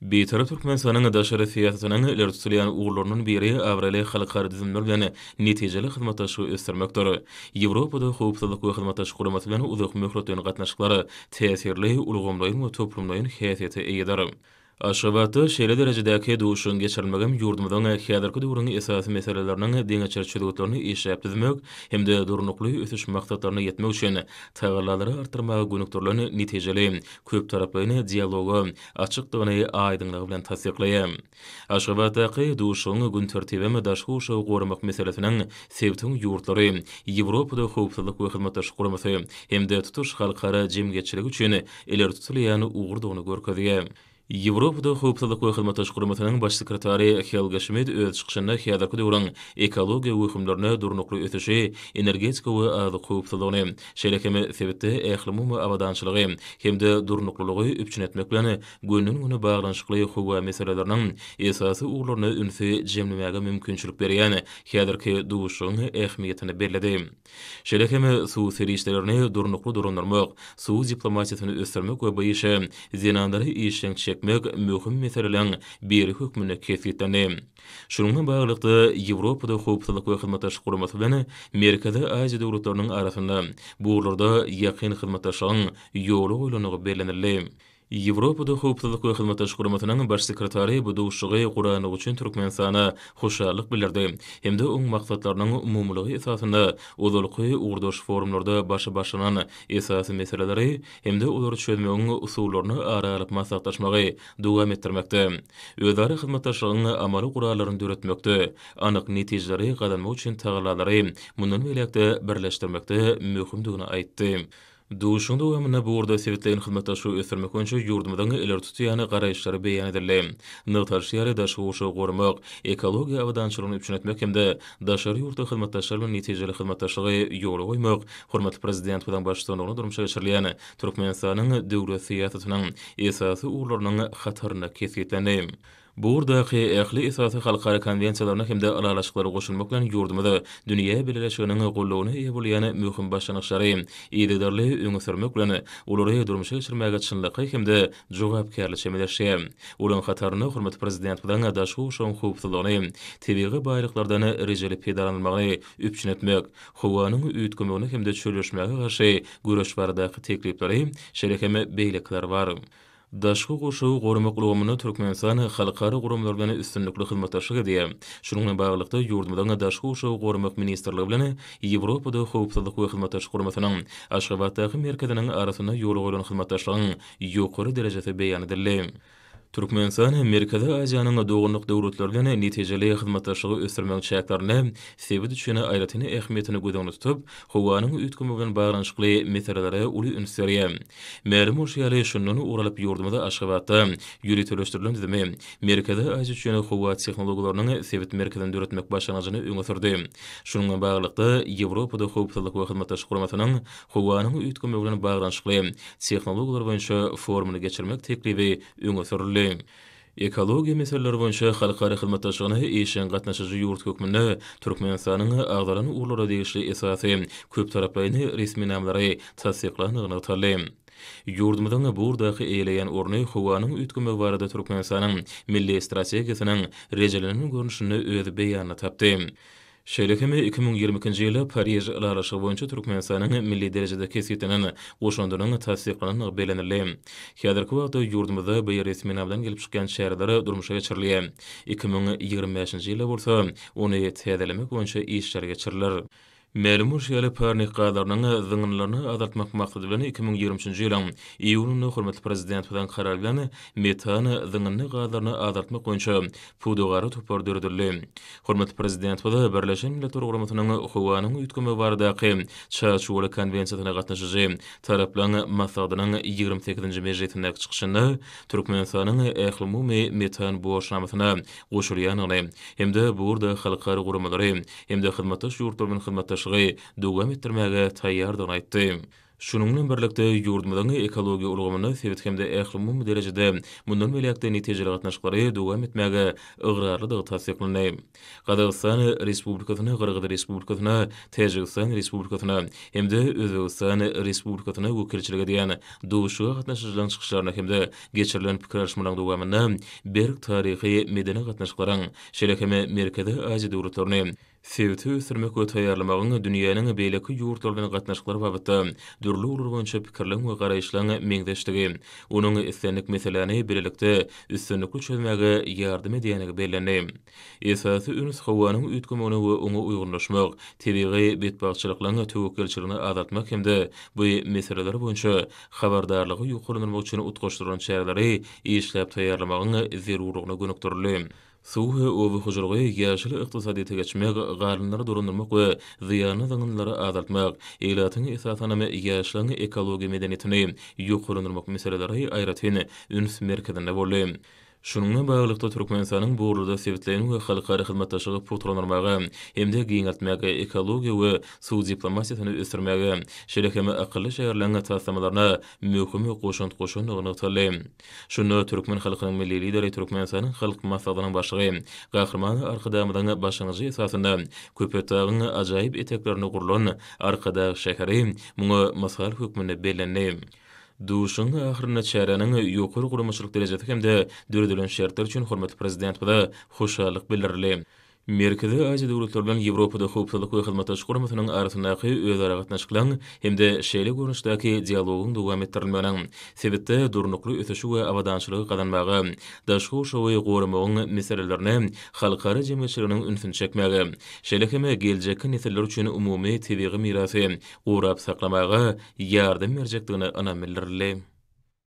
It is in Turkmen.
Bitarap Türkmenistanyň daşary syýasatynyň ileri tutulýan ugurlarynyň biri abraýly halkara düzümler bilen netijeli hyzmatdaşlygy ösdürmekdir. Ýewropada Howpsuzlyk we Hyzmatdaşlyk Guramasy bilen uzakmöhletleýin gatnaşyklar täsirli, ulgamlaýyn we toplumlaýyn häsiýete eýedir. Aşgabatda şeýle derejedäki duşuşygyň geçirilmegem ýurdumyzyň häzirki döwrüň esasy meseleleriniň deňeçer çözgütlerini işläp düzmek hem-de Durnukly ösüş maksatlaryna ýetmek üçin tagallalary artdyrmaga gönükdirilen netijeli köptaraplaýyn dialoga açykdygyny aýdyňlygy bilen tassyklaýar. Aşgabatdaky duşuşygyň gün tertibem daşky gurşawy goramak meselesiniň sebitiň ýurtlary, Ýewropada Howpsuzlyk we Hyzmatdaşlyk Guramasy hem-de tutuş halkara jemgyýetçiligi üçin ileri tutulýan ugurdygyny görkezýär. Ýewropada Howpsuzlyk we Hyzmatdaşlyk Guramasynyň Baş sekretary Helga Şmit öz çykyşynda häzirki döwrüň ekologiýa wehimlerine durnukly ösüşi, energetika we azyk howpsuzlygyny, Şeýle hem sebitde ählumumy abadançylygy hem-de durnuklylygy üpjün etmek bilen günden-güne baglanyşykly howa meseleleriniň esasy ugurlaryna ünsi jemlemäge mümkinçilik berýän häzirki duşuşygyň ähmiýetini belledi. Şeýle hem suw serişdelerini durnukly dolandyrmak, suw diplomatiýasyny ösdürmek we bu işe zenanlary işjeň çekmek möhüm meseleleriň biri hökmünde kesgitlendi. Şunuň bilen baglylykda, Ýewropada Howpsuzlyk we Hyzmatdaşlyk Guramasy bilen Merkezi Aziýa döwletleriniň arasynda bu ugurlarda ýakyn hyzmatdaşlygyň ýola goýlandygy bellenildi. Ýewropada Howpsuzlyk we Hyzmatdaşlyk Guramasynyň Baş sekretary bu duşuşygy gurandygy üçin Türkmenistana hoşallyk bildirdi hem-de oň maksatlarynyň umumylygy esasynda ozalky ugurdaş forumlarda başy başlanan esasy meseleleri hem-de olary çözmegiň usullaryny ara alyp maslahatlaşmagy dowam etdirmekde, özara hyzmatdaşlygyň amaly gurallaryny döretmekde, anyk netijeleri gazanmak üçin tagallalary mundan beýläk-de birleşdirmekde möhümdigini aýtdy. Duşuşygyň dowamynda bu ugurda sebitleýin hyzmatdaşlygy ösdürmek boýunça ýurdumyzyň ileri tutýan garaýyşlary beýan edildi. Nygtalyşy ýaly, daşky gurşawy goramak, ekologiýa abadançylygyny üpjün etmek hem-de daşary ýurtly hyzmatdaşlar bilen netijeli hyzmatdaşlygy ýola goýmak hormatly Prezidentimiziň baştutanlygynda durmuşa geçirilýän Türkmenistanyň döwlet syýasatynyň esasy ugurlarynyň hatarynda kesgitlendi. Bu ugurdaky ähli esasy halkara konwensiýalaryna hem-de ylalaşyklara goşulmak bilen ýurdumyz dünýä bileleşiginiň goldawyna eýe bolýan möhüm başlangyçlary yzygiderli öňe sürmek bilen, olary durmuşa geçirmäge çynlakaý hem-de jogapkärli çemeleşdi. Olaryň hatarynda hormatly Prezidentimiziň daşky gurşawyň howpsuzlygyny, tebigy baýlyklardan rejeli peýdalanylmagyny üpjün etmek, howanyň üýtgemegine hem-de çölleşmäge garşy göreş baradaky teklipleri, şeýle hem beýlekiler bar. Daşky gurşawy goramak ulgamynda Türkmenistan halkara guramalar bilen üstünlikli hyzmatdaşlyk edýär. Şunuň bilen baglylykda, ýurdumyzyň Daşky gurşawy goramak ministrligi bilen Ýewropada Howpsuzlyk we Hyzmatdaşlyk Guramasynyň Aşgabatdaky merkeziniň arasynda ýola goýlan hyzmatdaşlygyň ýokary derejesi beýan edildi. Türkmenistan Merkezi Aziýanyň doganlyk döwletleri bilen netijeli hyzmatdaşlygy ösdürmegiň çäklerinde sebit üçin aýratyn ähmiýetini göz öňünde tutup, howanyň üýtgemegi bilen baglanyşykly meselelere uly üns berýär. Mälim bolşy ýaly, şundan ugur alyp ýurdumyz Aşgabatda ýöriteleşdirilen düzümi, Merkezi Aziýa üçin howa tehnologiýalarynyň sebit merkezini döretmek başlangyjyny öňe sürdi. Şunuň bilen baglylykda, Ýewropada Howpsuzlyk we Hyzmatdaşlyk Guramasynyň Howanyň üýtgemegi bilen baglanyşykly tehnologiýalar boýunça forumyny geçirmek teklibi öňe sürüldi. Ekologiýa meseleleri boýunça halkara hyzmatdaşlygyna işjeň gatnaşyjy ýurt hökmünde Türkmenistanyň agzalan ugurlara degişli esasy köptaraplaýyn resminamalary tassyklandygy nygtaldy. Ýurdumyzyň bu ugurdaky eýeleýän orny howanyň üýtgemegi barada Türkmenistanyň Milli strategiýasynyň rejelenen görnüşinde öz beýanyny tapdy. Şeýle hem iki müň ýigrimi ikinji ýyly Pariž ylalaşygy boýunça Türkmenistanyň milli derejede kesgitlenen goşandynyň tassyklanandygy bellenildi. Häzirki wagtda ýurdumyzda bu resminama bilen gelip çykýan çäreler durmuşa geçirilýär. Iki müň ýigrimi bäşinji ýylda bolsa ony täzelemek boýunça işler geçiriler. Mälim bolşy ýaly, parnik gazlarynyň zyňyndylaryny azaltmak maksady bilen iki müň ýigrimi üçünji ýylyň iýunynda hormatly Prezidentimiziň Karary bilen metan zyňyndy gazlaryny azaltmak boýunça Pudagara topar döredildi. Hormatly Prezidentimiz Birleşen Milletler Guramasynyň Howanyň üýtgemegi baradaky Çarçuwaly konwensiýasyna gatnaşyjy taraplaryň maslahatynyň ýigrimi sekizinji mejlisindäki çykyşynda Türkmenistanyň Ählumumy metan borçnamasyna goşulýandygyny hem-de bu ugurda halkara guramalary hem-de hyzmatdaş ýurtlar bilen hyzmatdaşlygy dowam etdirmäge taýýardygyny aýtdy. Şunuň bilen birlikde, ýurdumyzyň ekologiýa ulgamynda sebit hem-de ählumumy derejede mundan beýläk-de netijeli gatnaşyklary dowam etmäge ygrarlydygy tassyklandy. Gazagystan Respublikasyna, Gyrgyz Respublikasyna, Täjigistan Respublikasyna hem-de Özbegistan Respublikasyna wekilçilik edýän duşuşyga gatnaşyjylaryň çykyşlaryna hem-de geçirilen pikir alyşmalaryň dowamynda berk taryhy-medeni gatnaşyklaryň, şeýle hem Merkezi Aziýa döwletlerini, Sebiti ösdürmek we taýýarlamagyň dünýäniň beýleki ýurtlary bilen gatnaşyklary babatda dürli ugurlar boýunça pikirleriň we garaýyşlaryň meňzeşdigi, onuň islendik meseläni bilelikde üstünlikli çözmäge ýardam edýändigi bellendi. Esasy üns howanyň üýtgemegine we oňa uýgunlaşmak, tebigy betbagtçylyklaryň töwekgelçiligini azaltmak hem-de bu meseleler boýunça habardarlygy ýokarlandyrmak üçin utgaşdyrylan çäreleri işläp taýýarlamagyň zerurlygyna gönükdirildi. Suw we oba hojalygy, ýaşyl ykdysadyýete geçmek, galynlary dolandyrmak we zyýanly zyňyndylara azaltmak, ilatyň, esasanam, ýaşlaryň ekologiýa medeniýetini ýokarlandyrmak meseleleri aýratyn üns merkezinde boldy. Şunuň bilen baglylykda, Türkmenistanyň bu ugurda sebitleýin we halkara hyzmatdaşlygy pugtalandyrmaga hem-de giňeltmäge, ekologiýa we suw diplomatiýasyny ösdürmäge, şeýle hem akylly şäherleň taslamalaryna möhüm goşant goşandygy nygtaldy. Şunda türkmen halkynyň Milli Lideri, Türkmenistanyň Halk Maslahatynyň Başlygy Gahryman Arkadagymyzyň başlangyjy esasynda Köpetdagyň ajaýyp eteklerinde gurlan Arkadag şäheri muňa mysal hökmünde bellendi. Duşuşygyň ahyrynda çäräniň ýokary guramaçylyk derejesi hem-de döredilen şertler üçin hormatly Prezidentimize hoşallyk bildirildi. Merkezi Aziýa döwletleri bilen Ýewropada Howpsuzlyk we Hyzmatdaşlyk Guramasynyň arasyndaky özaragatnaşyklaryň hem-de şeýle görnüşdäki dialogyň dowam etdirilmeginiň sebitde durnukly ösüşi we abadançylygy gazanmaga, daşky gurşawy goramagyň meselelerine halkara jemgyýetçiliginiň ünsüni çekmäge, şeýle hem geljekki nesiller üçin umumy tebigy mirasy gorap saklamaga ýardam berjekdigine ynam bildirildi.